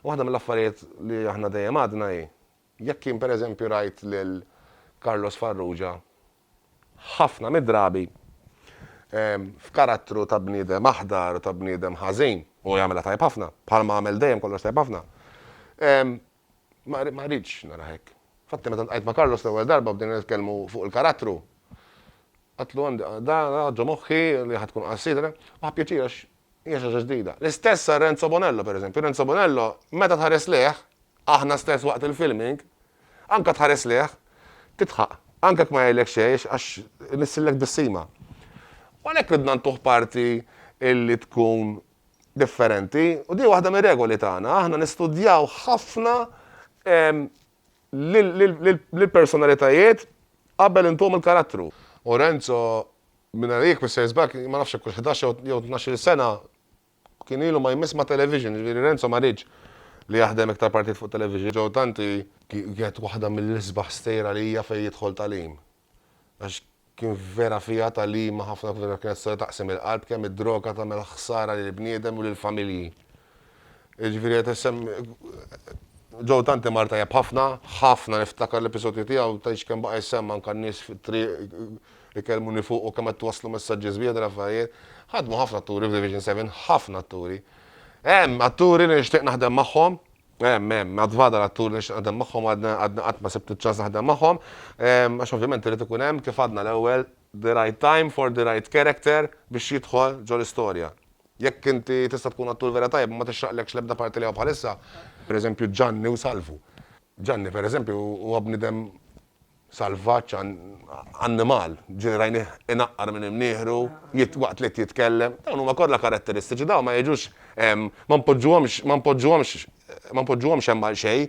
Waħda mill-affarijiet li aħna dejjem għadna hi, jekk jien pereżempju rajt lil Carlos Farrugia ħafna mid-drabi f'karattru ta' bniedem aħdar u ta' bniedem ħażin, u jagħmilha tajjeb ħafna, bħalma għamel dejjem kollox tajjeb ħafna, ma rridx narah hekk. Infatti meta ltqajt ma' Carlos l-ewwel darba bdejna nitkellmu fuq il-karattru, għedtlu għandi dan ġo moħħi li ħa tkun qasira, u ħa pjaċir għax Hija xi ħaġa ġdida. L-istess għal Renzo Bonello, pereżempju. Renzo Bonello, meta tħares lejh, aħna stess waqt il-filming, anke tħares lejh, tidħaq. Anke jekk ma jgħidlek xejn għax inissillek tbissima. U għalhekk ridna ntuh parti li tkun differenti u din waħda mir-regoli tagħna. Aħna nistudjaw ħafna ehm, lill-personalitajiet qabel intuhom il-karattru. U Renzo Mingħajr Mister Sbagħ ma nafx jekk hux ħdax jew tnax-il sena kien ilu ma jmiss ma' television, jiġifieri Renzo ma riedx li jaħdem iktar partijiet fuq television. Joe Tanti kienet waħda mill-isbaħ stejjer għalija fejn jidħol tagħlim. Għax kien vera fiha tagħlima ħafna kienet storja taqsim il-qalb kemm id-droga tagħmel ħsara lill-bniedem u lill-familji. Jiġifieri qed issemm Joe tant imar tajjeb ħafna, ħafna niftakar l-episodju tiegħu, tgħidx kemm baqa' jsemma anke n-nies fit-triq ikellmuni fuqu u kemm qed twasslu messaġġi sbieħ dan l-affarijiet. Ħadmu ħafna atturi f'Division Seven, ħafna atturi. Hemm atturi li nixtieq naħdem magħhom, hemm, hemm, għad fadal atturi li nixtieq naħdem magħhom għadni għadni qatt ma sibt iċ-ċans naħdem magħhom, għax ovvjament irid ikun hemm, kif għadna l-ewwel, the right time for the right character biex jidħol ġo l-istorja. Jekk inti tista' tkun attur vera tajjeb u ma tixraqlekx l-ebda parti li hawn bħalissa, pereżempju Ġanni u Salvu. Ġanni, pereżempju, huwa bniedem salvaġġ, annimal, ġieli rajnih inaqqar minn imnieħru, waqt li qed jitkellem. Dawn huma kollha karatteristiċi, dawn ma jiġux, ma npoġġuhomx, ma npoġġuhomx, ma npoġġuhomx hemm għalxejn.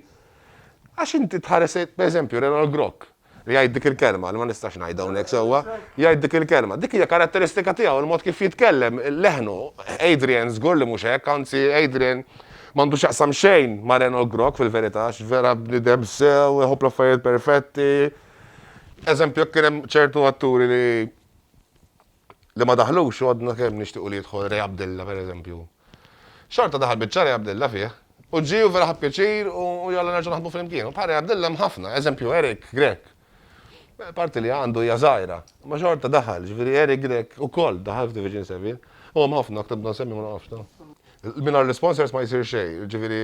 Għax inti tħares lejn, pereżempju, Renald Grock. Li jgħid dik il-kelma, li ma nistax ngħid hawnhekk sewwa, jgħid dik il-kelma. Dik hija karatteristika tiegħu, il-mod kif jitkellem, leħnu. Adrian żgur li mhux hekk, anzi Adrian m'għandu x'jaqsam xejn ma' Reno Grok fil-verità għax vera bniedem sew, iħobb l-affarijiet perfetti. Eżempju, jekk kien hemm ċertu atturi li li ma daħlux għadna kemm nixtiequ li jidħol Ray Abdella per eżempju. Xorta daħal biċċa Ray Abdella fih u ġie u vera ħa pjaċir u jalla nerġgħu naħdmu flimkien. U bħal Ray Abdella hemm ħafna, eżempju Eric Grech. Parti li għandu hija żgħira, ma xorta daħal, ġifieri Eric Grech ukoll daħal f'Division 7. U hemm ħafna aktar bda nsemmi ma nafx ta. Mingħajr l-sponsors ma jsir xejn, ġifieri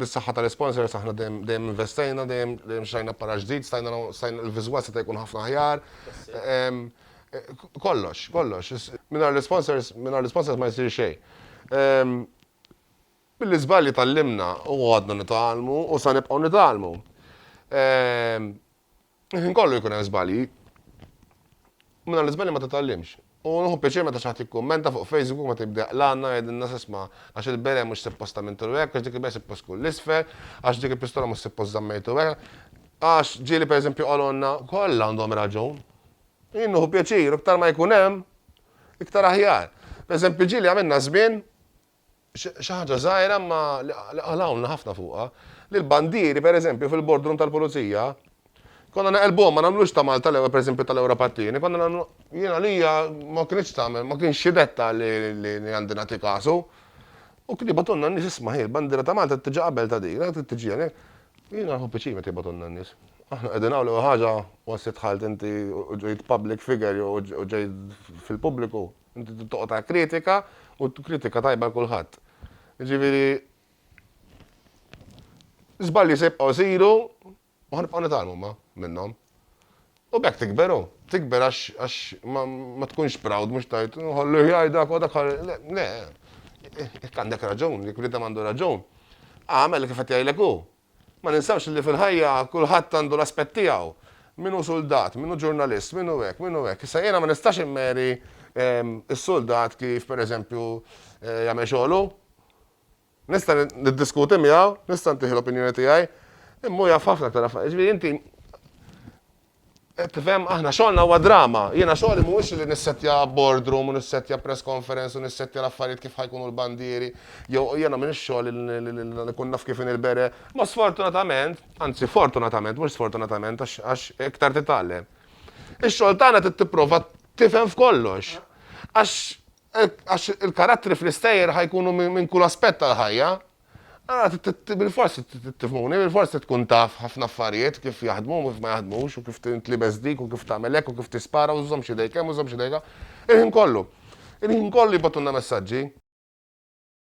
bis-saħħa tal-sponsors aħna dejjem investejna, dejjem xajna para ġdid, stajna l-viżwal seta' jkun ħafna aħjar. Kollox, kollox. Mingħajr l-isponsors, mingħajr l-isponsors ma jsir xejn. Mill-iżbalji tgħallimna u għadna nitgħallmu u sa nibqgħu nitgħallmu. Il-ħin kollu jkun hemm żbalji. Mingħajr l-iżbalji ma titgħallimx. U nħu pjaċir meta xi ħadd jikkummenta fuq Facebook u meta jibda l-għanna jgħidilna s'isma' għax il-bere mhux suppost għamiltu hekk, għax dik il-bere suppost tkun l-isfel, għax dik il-pistola mhux suppost żammejtu hekk. Għax ġieli pereżempju qalulna, kollha għandhom raġun. Jien nieħu pjaċir, u iktar ma jkun hemm, iktar aħjar. Pereżempju, ġieli għamilna żmien, xi ħaġa żgħira imma li qalgħulna ħafna fuqha, li l-bandieri pereżempju fil-boardroom tal-pulizija, konna neqelbuhom ma nagħmlux ta' Malta l-ewwel pereżempju tal-Ewropa t-tieni, konna nagħmlu, jien għalija ma kinitx tagħmel, ma kienx xi dettal li għandi nagħti kasu. U kien jibgħathulna n-nies isma' hi l-bandiera ta' Malta tiġi qabel ta' din, trid tiġi hawnhekk. Jiena nieħu piċir meta jibgħathulna n-nies. Aħna qegħdin hawn l-ewwel ħaġa once li dħalt inti u ġejt public figure jew u ġejt fil-pubbliku, inti trid toqgħod għal kritika u kritika tajba għal kulħadd. Jiġifieri żbalji se jibqgħu jsiru, U ħa nibqgħu nitgħallmu ma minnhom. U b'hekk tikber hu. Tikber għax għax ma ma tkunx proud mhux tgħid ħalli jgħidha u dak ħalli le le. Jekk għandek raġun, jekk bniedem għandu raġun, agħmel kif qed jgħidlek hu. Ma ninsewx li fil-ħajja kulħadd għandu l-aspett tiegħu. Min hu suldat, min hu ġurnalist, min hu hekk, min hu hekk. Issa jiena ma nistax immeri s-suldat kif pereżempju jagħmel xogħlu. Nista' niddiskuti miegħu, nista' ntih l-opinjoni tiegħi, imma hu jaf ħafna aktar affarijiet. Ġifieri inti tifhem aħna xogħolna huwa drama. Jiena xogħli mhuwiex li nissettja boardroom u nissettja press conference u nissettja l-affarijiet kif ħa jkunu l-bandieri jew jiena m'iniex xogħli li nkun naf kif inhi l-bere. Imma sfortunatament, anzi fortunatament mhux sfortunatament għax iktar titgħallem, ix-xogħol tagħna trid tipprova tifhem f'kollox. Għax Hekk għax il-karattri fl-istejjer ħa jkunu minn kull aspett tal-ħajja. Allura bilfors trid tifhmuni, bilfors trid tkun taf ħafna affarijiet kif jaħdmu u kif ma jaħdmux u kif tintlibes dik u kif tagħmel hekk u kif tispara u żżommx idejk hemm u żżommx idejk hawn. Il-ħin kollu. Il-ħin kollu jibgħatulna messaġġi.